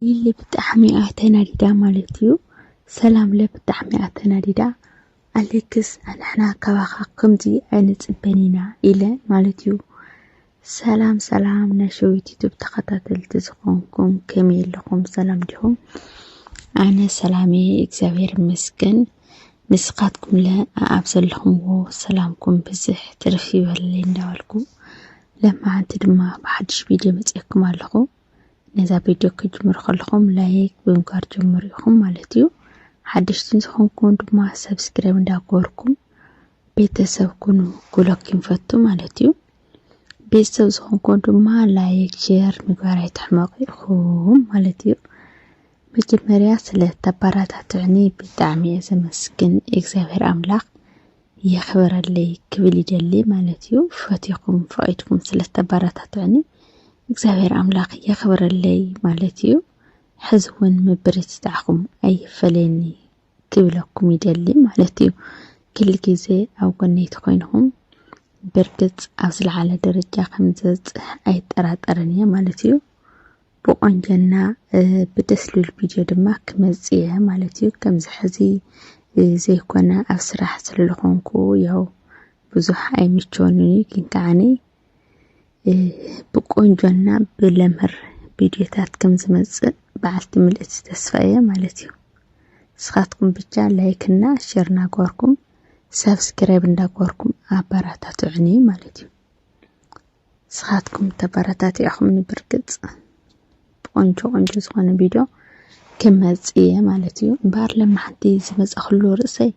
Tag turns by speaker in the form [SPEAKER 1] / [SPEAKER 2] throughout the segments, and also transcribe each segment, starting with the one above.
[SPEAKER 1] ሊሊ ብጣዕሚ እያ ተናዲዳ ማለት እዩ። ሰላም ለ ብጣዕሚ እያ ተናዲዳ ኣሌክስ ኣንሕና ካባኻ ከምዚ ኣይንፅበን ኢና ኢለ ማለት እዩ። ሰላም ሰላም ናይ ሸዊት ዩቱብ ተኸታተልቲ ዝኾንኩም ከመይ ኣለኹም ሰላም ዲኹም? ኣነ ሰላም እየ እግዚኣብሔር ይመስገን። ንስኻትኩም ለ ኣብ ዘለኹምዎ ሰላምኩም ብዝሕ ትርፍ ይበለለይ እንዳበልኩ ለማዓንቲ ድማ ብሓድሽ ቪድዮ መፅኤኩም ኣለኹ። ነዛ ቪድዮ ክትጅምሩ ከለኹም ላይክ ብምግባር ጀምሩ ኢኹም ማለት እዩ ሓደሽቲ ዝኾንኩም ድማ ሰብስክራይብ እንዳገበርኩም ቤተሰብ ኩኑ ጉሎክ ይንፈቱ ማለት እዩ ቤተሰብ ዝኾንኩም ድማ ላይክ ሼር ምግባር ኣይትሕመቑ ኢኹም ማለት እዩ መጀመርያ ስለ ተባራታትዕኒ ብጣዕሚ እየ ዘመስግን እግዚኣብሔር ኣምላኽ የኽብረለይ ክብል ይደሊ ማለት እዩ። ፈቲኹም ፈቒድኩም ስለ እተበረታትዑኒ እግዚኣብሔር ኣምላኽ የኽብረለይ ማለት እዩ። ሕዚ እውን ምብርትታዕኹም ኣይፈለየኒ ክብለኩም ይደሊ ማለት እዩ። ክል ግዜ ኣብ ጎነይ ተኾይንኹም ብርግጽ ኣብ ዝለዓለ ደረጃ ከም ዝበጽሕ ኣይጠራጠርን እየ ማለት እዩ። ብቆንጀና ብደስ ልብል ቪድዮ ድማ ክመጽእ እየ ማለት እዩ ከምዚ ሕዚ ዘይኮነ ኣብ ስራሕ ስለለኾንኩ ያው ብዙሕ ኣይምቸወንን እዩ ግን ከዓኒ ብቆንጆና ብለምር ቪድዮታት ከም ዝመጽእ በዓልቲ ምልእቲ ተስፋ እየ ማለት እዩ ንስኻትኩም ብቻ ላይክ እና ሸር እናገበርኩም ሳብስክራይብ እንዳገበርኩም ኣበረታትዑኒ ማለት እዩ ንስኻትኩም ተበረታቲዕኹምኒ ብርግጽ ቆንጆ ቆንጆ ዝኾነ ቪድዮ ክመጽእ እየ ማለት እዩ እምበኣር ለማሕንቲ ዝመጻኽሉ ርእሰይ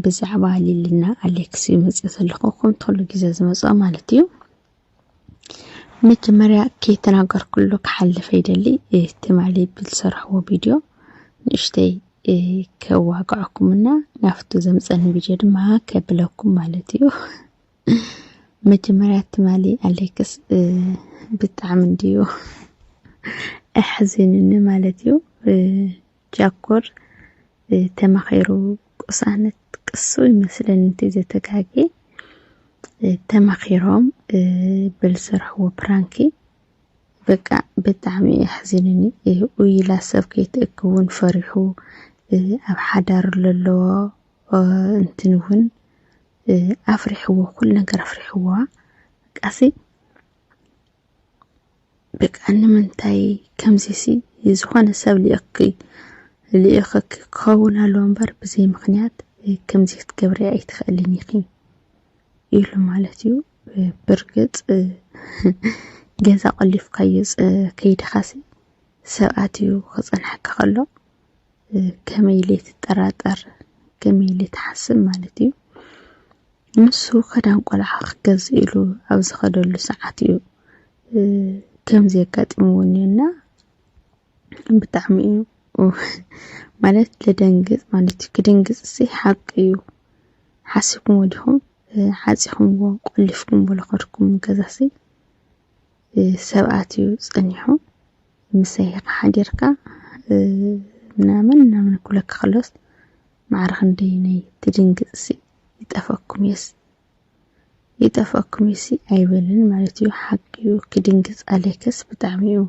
[SPEAKER 1] ብዛዕባ ሊልና ኣሌክስ እዩ መጽእ ዘለኹ ከምቲ ኩሉ ግዜ ዝመጽኦ ማለት እዩ መጀመርያ ከይተናገርኩሉ ክሓልፍ ይደሊ ትማሊ ብዝሰርሕዎ ቪድዮ ንእሽተይ ከዋግዐኩምና ናብቲ ዘምፀኒ ቪድዮ ድማ ከብለኩም ማለት እዩ መጀመርያ ትማሊ ኣሌክስ ብጣዕሚ እንድዩ ኣሕዚኑኒ ማለት እዩ። ጃኮር ተማኺሩ ቅሳነት ቅሱ ይመስለኒ እቲ ዘተጋጌ ተማኺሮም ብዝሰርሕዎ ፕራንኪ በቃ ብጣዕሚ እዩ ኣሕዚኑኒ ኢላ ሰብ ከይትእክውን ፈሪሑ ኣብ ሓዳር ለለዎ እንትን እውን ኣፍሪሕዎ ኩሉ ነገር ኣፍሪሕዋ ቃሲ በቃ ንምንታይ ከምዚሲ ዝኾነ ሰብ ልእኪ ልእኸኪ ክኸውን ኣለዎ እምበር ብዘይ ምክንያት ከምዚ ክትገብሪ ኣይትኽእልን ኢኺ ኢሉ ማለት እዩ ብርግፅ ገዛ ቆሊፍካዮ ከይድኻሲ ሰብኣት እዩ ክፀንሐካ ከሎ ከመይ ኢለ ትጠራጠር ከመይ ኢለ ትሓስብ ማለት እዩ። ንሱ ክዳን ቆልዓ ክገዝእ ኢሉ ኣብ ዝኸደሉ ሰዓት እዩ ከምዚ የጋጢምዎ እኒኦና ብጣዕሚ እዩ ማለት ልደንግፅ ማለት እዩ። ክድንግፅ ሲ ሓቂ እዩ። ሓሲብኩሞ ዲኹም ሓፂኹምዎ ቆሊፍኩምዎ ዝኸድኩም ገዛሲ ሰብኣት እዩ ፀኒሑ። ምሰይ ኢኻ ሓዲርካ ምናምን ምናምን ክብለኪ ከሎስ ማዕረ ክንደይ ነይ ትድንግጽሲ ይጠፈኩምዩስ ይጠፈኩምዩሲ ኣይበልን ማለት እዩ ሓቂ እዩ ክድንግጽ ኣሌክስ ብጣዕሚ እዩ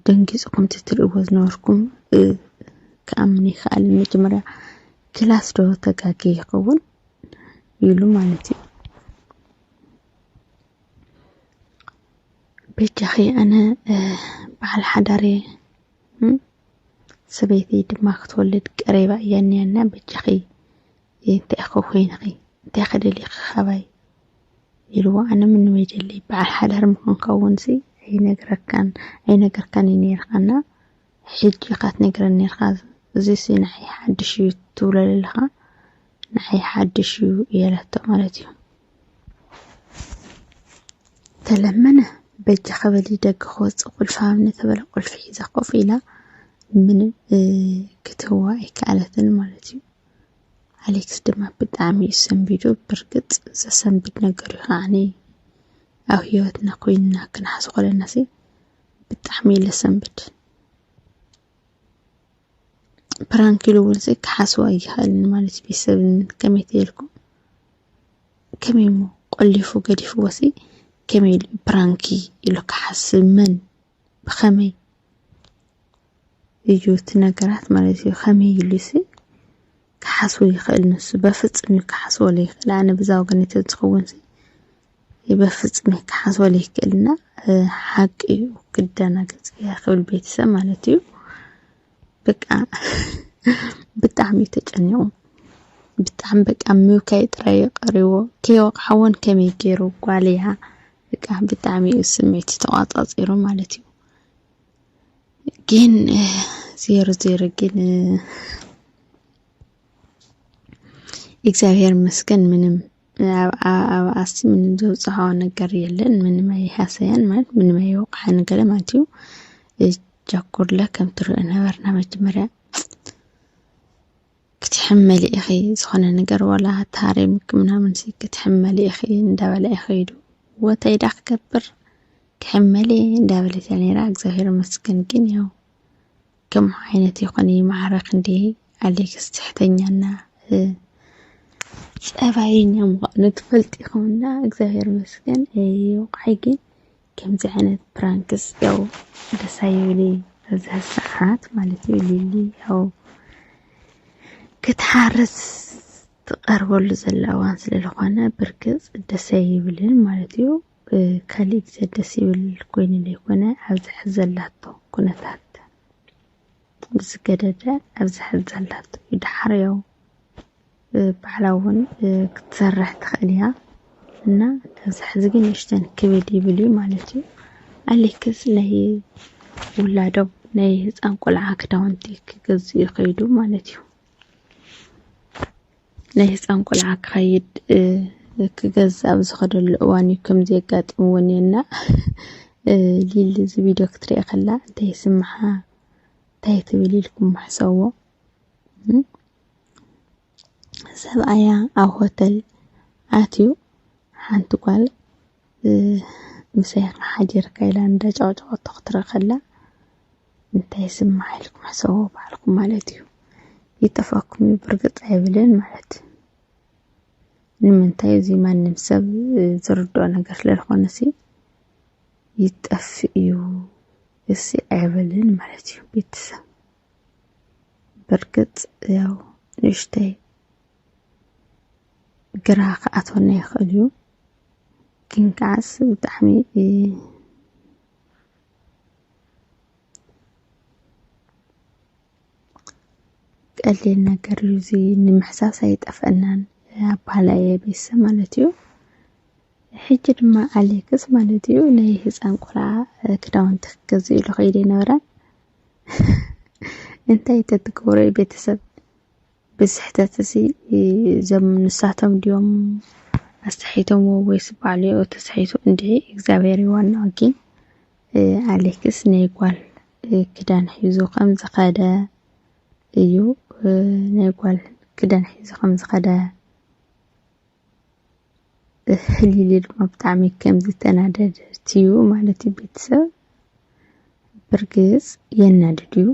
[SPEAKER 1] ደንጊጹ ከምቲ ትርእዎ ዝነበርኩም ክኣምን ኣይክኣልን መጀመርያ ክላስ ዶ ተጋግየ ይኸውን ኢሉ ማለት እዩ በጃኺ ኣነ በዓል ሓዳር እየ ሰበይቲ ድማ ክትወልድ ቀሪባ እያ እኒኣና በጃኺ እንታይ እኮ ኮይንኺ እንታይ ከደሊኺ ካባይ ኢልዎ ኣነ ምንም የደሊ በዓል ሓዳር ምኾንካ እውን ሲ ኣይነግረካን ኣይነገርካን እዩ ነይርካና ሕጂ ኢኻ ትነግረን ነይርካ እዚ ሲ ንዓይ ሓድሽ እዩ ትብሎ ዘለኻ ንዓይ ሓድሽ እዩ እያላቶ ማለት እዩ ተለመነ በጃኺ በሊ ደገ ክወፅእ ቁልፊ ሃብኒ ተበለ ቁልፊ ሒዛ ኮፍ ኢላ ምንም ክትህዋ ኣይከኣለትን ማለት እዩ ኣሌክስ ድማ ብጣዕሚ እዩ ሰንቢዱ ብርግፅ ዘሰንብድ ነገር እዩ ከዓኒ ኣብ ሂወትና ኮይንና ክንሓስ ኮለናሲ ብጣዕሚ እዩ ለሰንብድ ፕራንክ ኢሉ እውን ክሓስቦ ኣይኸእልን ማለት እዩ። ሰብ ከመይ ትበልኩም ከመይ እሞ ቆሊፉ ገዲፍዎሲ ከመይ ኢሉ ፕራንክ እዩ ኢሉ ክሓስብ መን ብኸመይ እዩ እቲ ነገራት ማለት እዩ። ከመይ ኢሉሲ ክሓስቦ ይኸእል ንሱ በፍፅም እዩ ክሓስቦ ዘይክእል ኣነ ብዛ ወገነይ ተዝኸውን በፍፅም ክሓስቦ ዘይክእል እና ሓቂ እዩ ክደናገፅ እየ ክብል ቤተሰብ ማለት እዩ በቃ ብጣዕሚ እዩ ተጨኒቑ ብጣዕሚ በቃ ምብካይ ጥራይ እዩ ቀሪዎ ከይወቕዓዎን ከመይ ገይሩ ጓል እያ በቃ ብጣዕሚ እዩ ስምዒት ተቋፃፂሩ ማለት እዩ ግን ዜሮ ዜሮ ግን እግዚኣብሔር ይመስገን ምንም ኣብኣኣብኣሲ ምንም ዘብጽሖ ነገር የለን ምንም ኣይሃሰያን ማለት ምንም ኣይወቕዓ ነገር ማለት እዩ ጃኩርለ ከም ትርኦ ነበርና መጀመርያ ክትሕመሊ ኢኺ ዝኾነ ነገር ወላ ታሪምክ ምናምን ሲ ክትሕመሊ ኢኺ እንዳበለ ኢኺ ኢሉ ወተይዳ ክገብር ክሕመሊ እንዳበለት እያ ነይራ እግዚኣብሔር መስገን ግን ያው ከምኡ ዓይነት ይኹን ይማዕረግ ክንደይ ኣሌክስ ትሕተኛ እና ፀባየኛ ምዃኑ ትፈልጥ ኢኹም እና እግዚኣብሔር ይመስገን ይብቃይ ግን ከምዚ ዓይነት ፕራንክስ ያው ደስ ኣይብል ኣብዚ ሰዓት ማለት እዩ ሊሊ ያው ክትሓርስ ትቐርበሉ ዘላ እዋን ስለዝኾነ ብርግፅ ደስ ኣይብልን ማለት እዩ ብካሊእ ግዜ ደስ ይብል ኮይኑ ዘይኮነ ኣብዚ ሐዚ ዘላቶ ኩነታት ብዝገደደ ኣብዚ ሐዚ ዘላቶ እዩ ዳሓር ያው ባዕላ እውን ክትሰርሕ ትኽእል እያ እና ኣብዚ ሐዚ ግን ንእሽተን ክብድ ይብል እዩ ማለት እዩ ኣሌክስ ናይ ውላዶም ናይ ህፃን ቆልዓ ክዳውንቲ ክገዝኡ ይኸይዱ ማለት እዩ ናይ ህፃን ቆልዓ ክኸይድ ክገዝእ ኣብ ዝኸደሉ እዋን እዩ ከምዚ የጋጥምዎ እኒኦና ሊሊ እዚ ቪድዮ ክትሪኦ ከላ እንታይ ይስምሓ እንታይ ትብል ኢልኩም ምሕሰዎ ሰብኣያ ኣብ ሆተል ኣትዩ ሓንቲ ጓል ምሳይካ ሓዲርካ ኢላ እንዳጫውጫወቶ ክትርኢ ከላ እንታይ ይስማዕ ኢልኩም ሕሰብዎ ባዕልኩም ማለት እዩ። ይጠፍኣኩም እዩ ብርግጽ ኣይብልን ማለት እዩ። ንምንታይ እዚ ማንም ሰብ ዝርድኦ ነገር ስለዝኾነ ሲ ይጠፍእ እዩ እሲ ኣይብልን ማለት እዩ ቤተሰብ በርግጽ ያው ንእሽተይ ግራ ክኣትወና ይኽእል እዩ ግን ከዓስ ብጣዕሚ ቀሊል ነገር እዩ እዚ ንምሕሳስ ኣይጠፈናን ኣባህላይ ቤሰ ማለት እዩ ሕጂ ድማ ኣሌክስ ማለት እዩ ናይ ህፃን ቆልዓ ክዳውንቲ ክገዝእ ኢሉ ከይደ ነበረ እንታይ ተትገብሮ ቤተሰብ እዚ ስሕተት እዚ እዞም ንሳቶም ድዮም ኣስሒቶምዎ ወይስ ባዕሉ ኦኡ ተሳሒቱ እንድዒ እግዚኣብሄር እዩ ዋናኡ ጊን ኣሌክስ ናይ ጓል ክዳን ሒዙ ከም ዝኸደ እዩ ናይ ጓል ክዳን ሒዙ ከም ዝኸደ ህሊሊ ድማ ብጣዕሚ ከም ዝተናደደት እዩ ማለት እዩ ቤተሰብ ብርግፅ የናድድ እዩ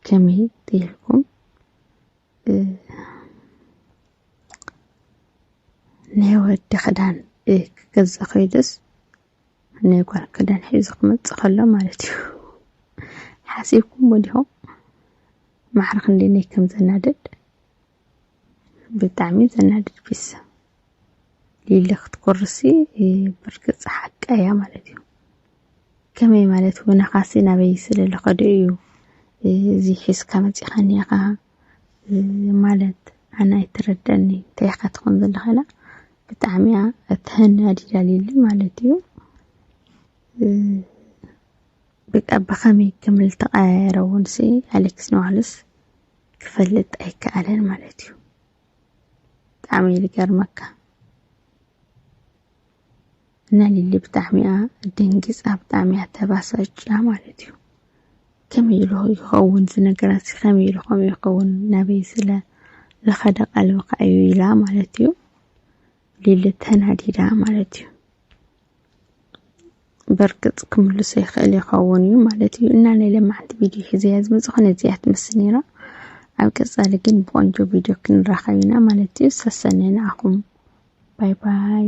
[SPEAKER 1] ከመይ ትይልኩም ናይ ወዲ ክዳን ክገዛ ከይደስ ናይ ጓል ክዳን ሒዙ ክመፅእ ከሎ ማለት እዩ ሓሲብኩም ወዲኹም ማዕርክ እንዴት ከም ዘናድድ ብጣዕሚ ዘናድድ ፒስ ሊሊ ክትኮርሲ ብርግፅ ሓቃ እያ ማለት እዩ ከመይ ማለት ወነኻሲ ናበይ ስለ ዝኸደ እዩ እዚ ሒዝካ መፂኻኒ ኢኻ ማለት ኣነ ኣይተረዳኒ እንታይ ኢኻ ትኾን ዘለኻ ኢላ ብጣዕሚ እያ ተናዲዳ ሊሊ ማለት እዩ በቃ ብኸመይ ከም ዝተቀያየረ እውን ሲ ኣሌክስ ንባዕሉስ ክፈልጥ ኣይከኣለን ማለት እዩ። ብጣዕሚ እዩ ዝገርመካ እና ሊሊ ብጣዕሚ እያ ደንጊፃ ብጣዕሚ እያ ተባሳጭያ ማለት እዩ። ከመይ ኢሉ ይኸውን እዚ ነገራት ከመይ ኢሉ ከምኡ ይኸውን ናበይ ስለ ዝኸደ ቀልብካ እዩ ኢላ ማለት እዩ። ሊሊ ተናዲዳ ማለት እዩ። በርግጽ ክምልሶ ይኽእል ይኸውን እዩ ማለት እዩ እና ናይ ለማዕንቲ ቪድዮ ሒዘያ ዝመጽእ ኾነ እዚኣ ትመስል ነይራ ኣብ ቀጻሊ ግን ብቆንጆ ቪድዮ ክንራኸብ ኢና ማለት እዩ ሰሰነ ንኣኹም ባይ ባይ